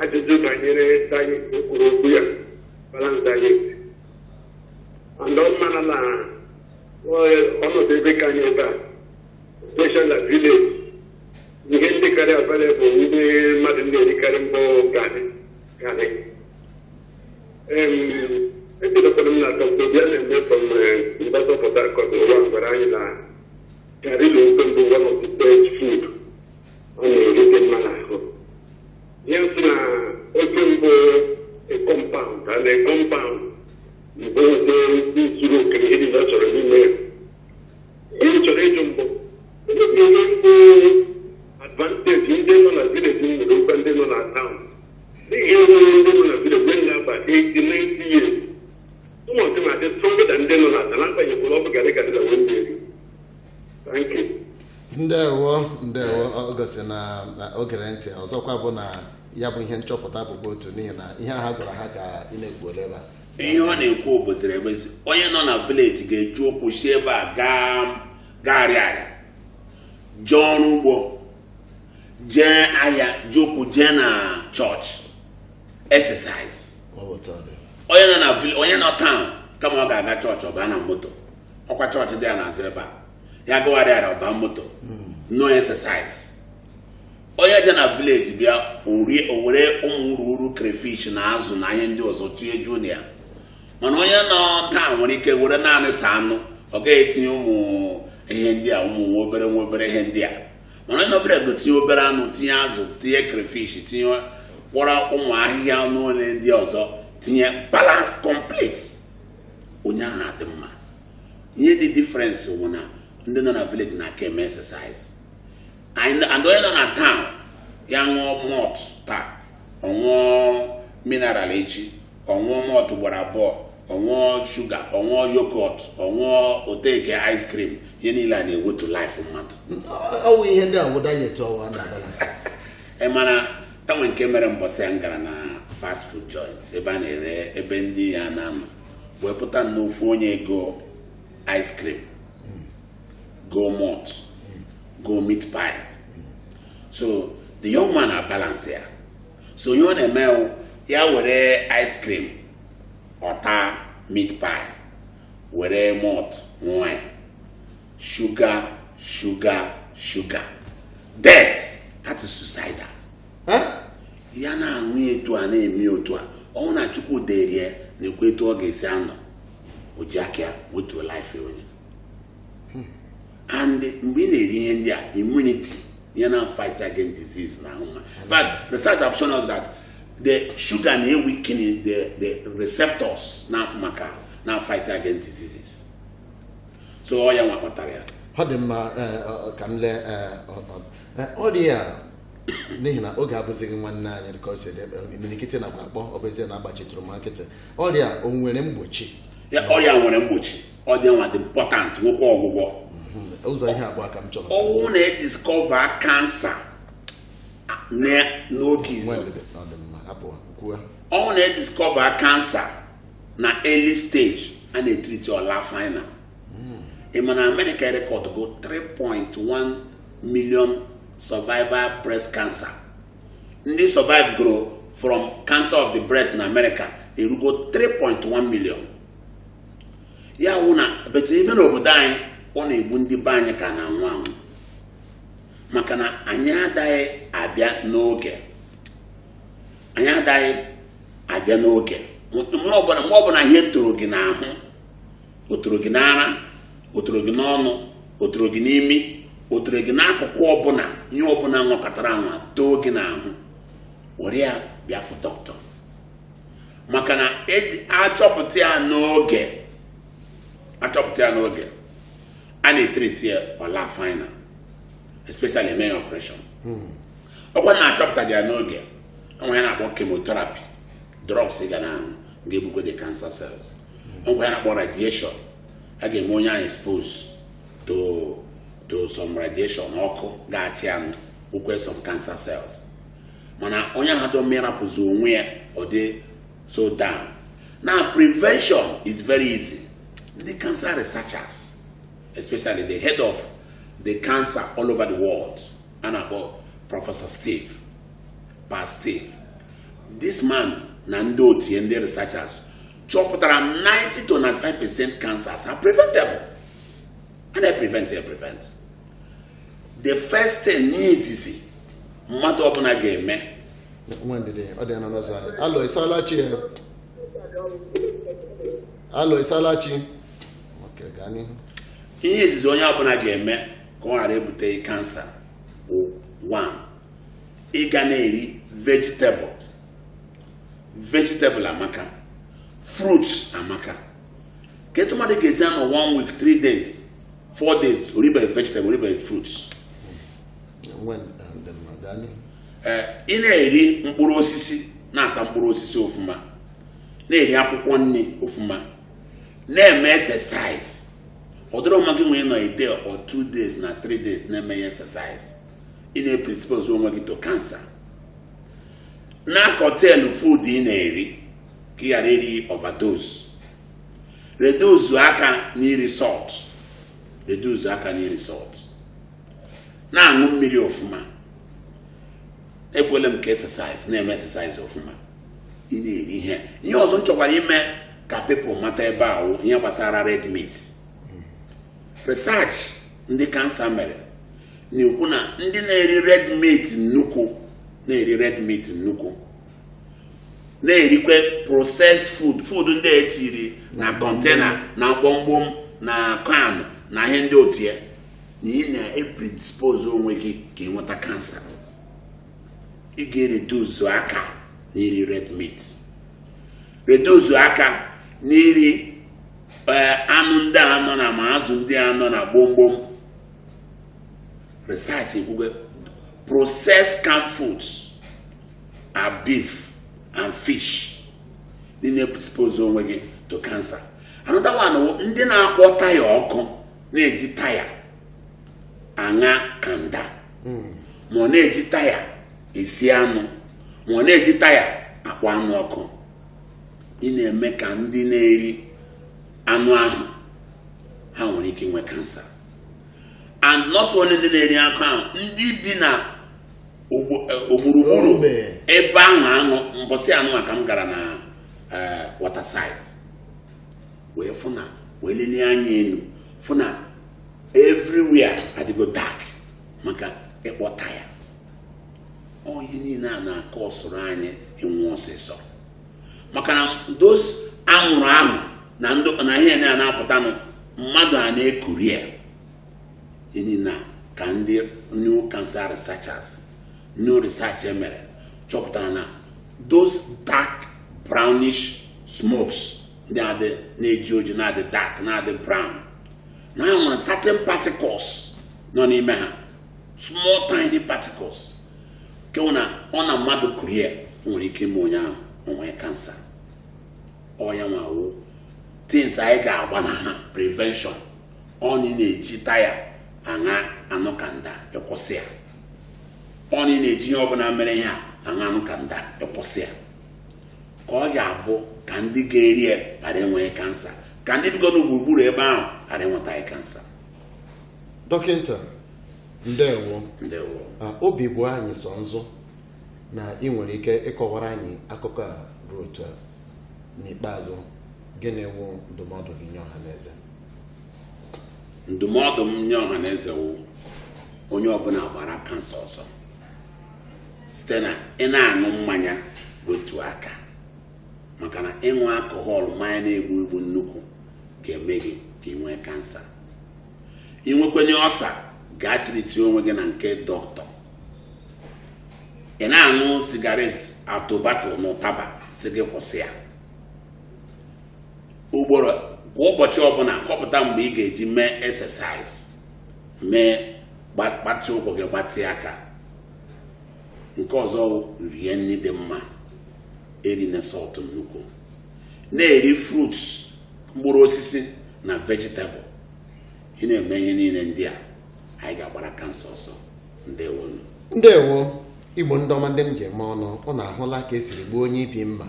ajụjụ banyere diet ị kwuru okwu ya balance diet and ị mara na ọnọdụ ebe nke anyị ebe a especially na village ihe dịkarị available ndị mmadụ na-erikarị bụ garị garị echetakwara m na dọkta bịa na-eme from University of Port Harcourt nwa gwara anyị na garị na ofe bụ one of the best food ọ na-eri dị mma n'ahụ ya sị na oke mbụ compound and compound mbụ zuru oke ihe niile ọ chọrọ n'ime ya ihe m chọrọ ịjụ mbụ ndị bụ ihe mbụ advantage ndị nọ na village nwere over ndị nọ na town n'ihi enwere ndị nọ na village mgbe m ga-aba 80 90 years ụmụọchị na-adị stronger than ndị nọ na town agbanyeghị ọ bụ garị garị na wee mmeri ndewo ndewo ọ gosi na na o gere ntị ọzọkwa bụ na ya bụ ihe nchọpụta bụkwa otu n'ihi na ihe ha gwara ha ka ị na-ekwu ole ebe a ihe ọ na-ekwu bụziri emezu onye nọ na village ga-eji ụkwụ si ebe a gaa gagharịa jee ọrụ ugbo jee ahịa ji ụkwụ jee na chọọchị exercise onye nọ na vil- onye nọ town kama ọ ga-aga chọọchị ọ baa na moto ọkwa chọọchị dị ya n'azụ ebe a ya gagharịa ọ baa moto no exercise onye dị na village bịa o were ụmụ ururu crayfish na azụ na ihe ndị ọzọ tinye juo na ya mana onye nọ town nwere ike were naanị sọ anụ ọ gaghị etinye ụmụ ihe ndị a ụmụ nwa obere nwa obere ihe ndị a mana onye nọ ebe ahụ tinye obere anụ tinye azụ tinye crayfish tinye kpọrọ ụmụ ahịhịa niile ndị ọzọ tinye balance complete onye ahụ adị mma ihe dị difference bụ na ndị nọ na village na-aka eme exercise and onye nọ na town ya ṅụọ malt taa ọ ṅụọ mineral echi ọ ṅụọ malt gbara abụọ ọ ṅụọ sugar ọ ṅụọ yogurt ọ ṅụọ ọ take ice cream ihe niile a na-ewetu life mmadụ ọ wụ ihe ndị a bụ diet ọwa na balance mana enwe nke mere mbọsị a m gara na fast food joint ebe a na-ere ebe ndị ya na-anọ wee pụta na ofu onye ego ice cream go malt go meat pie so the young man abalance ya so ihe ọ na-eme wụ, ya were ice cream ọ taa meat pie were malt ṅụa sugar sugar sugar death that is suicidal ya na-aṅụ etu a na-eme otu a ọ wụ na chukwu derie na-ekwu etu ọ ga-esi anọ o ji aka ya wetuo life onwe and mgbe ị na-eri ihe ndị a immunity ihe na-afight against disease n'ahụ but research have shown us that the sugar na-eweaken the the receptors na-afụ maka na-afight against diseases so ọ ya nwa kpatara ya ọ dị mma eh, ka m lee eh, ọrịa n'ihi na oge abụzighị nwanne anyị dịka o si dị imirikiti nakwa akpọ ọ bụ ezie na agbachitụrụ m nkịtị ọrịa o nwere mgbochi ọrịa nwere mgbochi ọ dị nwa dị important nwekwa ọgwụgwọ mhm. ụzọ ihe abụọ ka m chọrọ ọ wụ na ediskọva kansa n'oge ọ wụ na ediskọva kansa na early stage a na-etriti ọ laa final hmm. ị ma na amerịka erekọdgo 3.1 million survivor breast cancer ndị survivegoro from cancer of the breast in amerịka erugo 3.1 million ya wụ na but ime n'obodo anyị ọ na-egbu ndị be anyị ka na-anwụ anwụ maka na anyị adaghị abịa n'oge anyị adaghị abịa n'oge mgbe ọbụla mgbe ọbụla ihe toro gị n'ahụ o toro gị n'ara o toro gị n'ọnụ o toro gị n'imi o toro gị n'akụkụ ọbụla ihe ọbụla nwakatara anwa too gị n'ahụ were ya bịa fụ dọkịta maka na achọpụta ya n'oge achọpụta ya n'oge a na-etreti ya ọ laa final especially emee ya ọpụreshọn ọkwa na achọpụta ya n'oge o nwee ihe a na-akpọ chemotherapy drugs ị ga na-aṅụ ga-egbukwe the cancer cells o nwee ihe a na-akpọ radiation a ga-eme onye ahụ expose to to some radiation ọkụ ga-achanwụkwe some cancer cells mana onye ahụ dọ mirapụzi onwe ya ọ dị so down now prevention is very easy the cancer researchers especially the head of the cancer all over the world a na-akpọ prọfesọ Steve pa Steve this man na ndị otu ya ndị researchers chọpụtara 90 to 95 percent cancers are preventable a na-prevent ya prevent the first thing ihe izizi mmadụ ọbụla ga-eme nwee ndidi onye nọ n'ụzọ anyị alọ ịsala chi ya alọ ịsala chi Okay, gaa n'ihu ihe izizi onye ọbụla ga-eme ka ọ ghara ebute kansa bụ one ị ga na-eri vegetable vegetable amaka fruits amaka kee etu mmadụ ga-esi anọ one week three days four days o ribeghị vegetable o ribeghị fruits eh, ị na-eri mkpụrụ osisi na-ata mkpụrụ osisi ofuma na-eri akwụkwọ nri ofuma na-eme exercise ọ dịrọ mma gị nwee nọ a day or two days na three days na-emeghị exercise ị na-epredispose onwe gị to cancer na-acurtail food ị na-eri ka ị ghara iri overdose reduce aka n'iri salt reduce aka n'iri salt na-aṅụ mmiri ọfụma ekwuole m ka exercise na-eme exercise ọfụma ị na-eri ihe ihe ọzọ m chọkwara ime ka people mata ebe a wụ ihe gbasara red meat research ndị cancer mere na-ekwu na ndị na-eri red meat nnukwu na-eri red meat nnukwu na-erikwe processed food food ndị e tiri na container na gbomgbom na can na ihe ndị otu a na ị na-epredispose onwe gị ka ị nweta cancer ị ga-ereduce aka n'iri red meat reduce aka n'iri eh, anụ ndị a nọ na ma azụ ndị a nọ na gbomgbom research ekwugo processed canned foods are beef and fish na ị na-expose onwe gị to cancer another one ndị na-akpọ taya ọkụ na-eji taya aṅa kanda ma ọ na-eji taya esi anụ ma ọ na-eji taya akpọ anụ ọkụ ị na-eme ka ndị na-eri anụ ahụ ha nwere ike inwe cancer and not only ndị na-eri anụ ahụ ndị bi na ogburugburu ebe ahụ anụ mbọsị anụ maka m gara na eh, waterside wee fụ na wee lenie anya enu fụ na everywhere adịgo dark maka ịkpọ taya ọ ihe niile a na-acausuru anyị ịnwụ ọsịsọ maka na those anwụrụ ahụ na ihe ndị a na-apụtanụ mmadụ a na-ekuri ya ihe niile ka ndị new cancer researchers new research e mere chọpụtara na those dark brownish smokes ndị dị na-eji oji na-adị dark na-adị brown na ha nwere certain particles nọ n'ime ha small tiny particles nke na ọ na mmadụ kurie ya nwere ike ime onye ahụ o nwee cancer ọ ya nwa wụ things anyị ga-agbanaha prevention ọ na ị na-eji taya aṅa anụ kanda ị kwụsị ya ọ na ị na-eji ihe ọbụla mere ihe a aṅa anụ kanda ị kwụsị ya ka ọ ya abụ ka ndị ga-eri ya ghara enweghị kansa ka ndị bigo na gburugburu ebe ahụ ghara enwetaghị kansa dọkịta ndewo ndewo ah, obi bụ anyị sọ ọṅụ na ị nwere ike ịkọwara anyị akụkọ a ruo otu a n'ikpeazụ gịnị wụ ndụmọdụ gị nye ọha na eze ndụmọdụ m nye ọha na eze wụ onye ọbụla gbara kansa ọsọ site na ị na-aṅụ mmanya wetu aka maka na ịṅụ alcohol mmanya na-egbu egbu nnukwu ga-eme gị ka ị nwee kansa ị nwekwanye ulcer gaa treatie onwe gị na nke doctor ị na-aṅụ sigaret tobacco na ụtaba a sị gị kwụsị ya ugboro kwa ụbọchị ọbụla kọpụta mgbe ị ga-eji mee exercise mee gbatịa ụkwụ gị gbatịa aka nke ọzọ rie nri dị mma erina salt nnukwu na-eri fruits mkpụrụ osisi na vegetable ị na-eme ihe niile ndị a anyị ga-agbara kansa ọsọ ndewo ndewo igbo ndị ọma ndị m ji eme ọnụ unu ahụla ka e siri gbuo onye ibi mma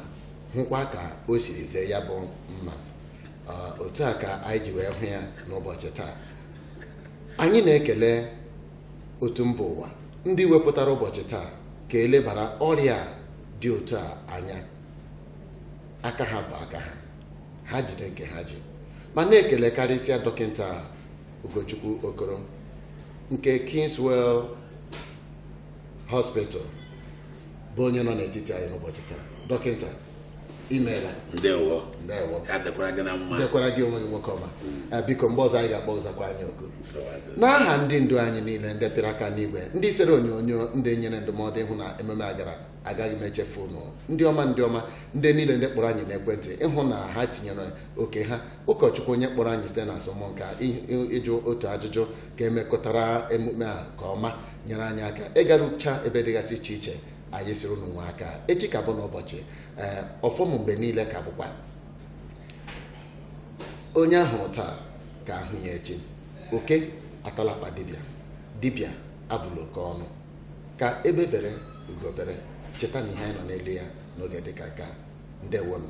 hụkwa ka o siri zee ya bụ mma otu a ka anyị ji wee hụ ya n'ụbọchị taa anyị na-ekele otu mba ụwa ndị wepụtara ụbọchị taa ka e lebara ọrịa dị otu a anya aka ha bụ aka ha ha jide nke ha ji ma na-ekele karịsịa dọkịta Ugochukwu Okoro nke Kingswell Hospital bụ onye nọ n'etiti anyị n'ụbọchị taa dọkịta imeela ndewo ndewo ya dịkwara gị na mma dịkwara gị onwe gị nwoke ọma Eh, biko mgbe ọzọ anyị ga-akpọ ị zakwa anyị oku n'aha ndị ndu anyị niile ndị pịrị aka n'igwe ndị sere onyonyo ndị nyere ndụmọdụ ịhụ na ememe a gara agaghị m echefu unu ndị ọma ndị ọma ndị niile ndị kpọrọ anyị n'ekwentị ịhụ na ha tinyere oke ha ụkọchukwu onye kpọrọ anyị site na asọmụnka ị- ị- ịjụ otu ajụjụ ka e mekọtara emume a ka ọma nyere anyị aka ịgarucha ebe dịgasị iche iche anyị sịrị unu nwe aka echi ka bụ n'ụbọchị ee ọfọ m mgbe niile ka bụkwa onye a hụrụ taa ka a hụ ya echi oke atala akpa dibịa dibịa abụla oke ọnụ ka egbe bere ugo bere cheta na ihe anyị nọ n'elu ya n'oge dịka nke a ndewonụ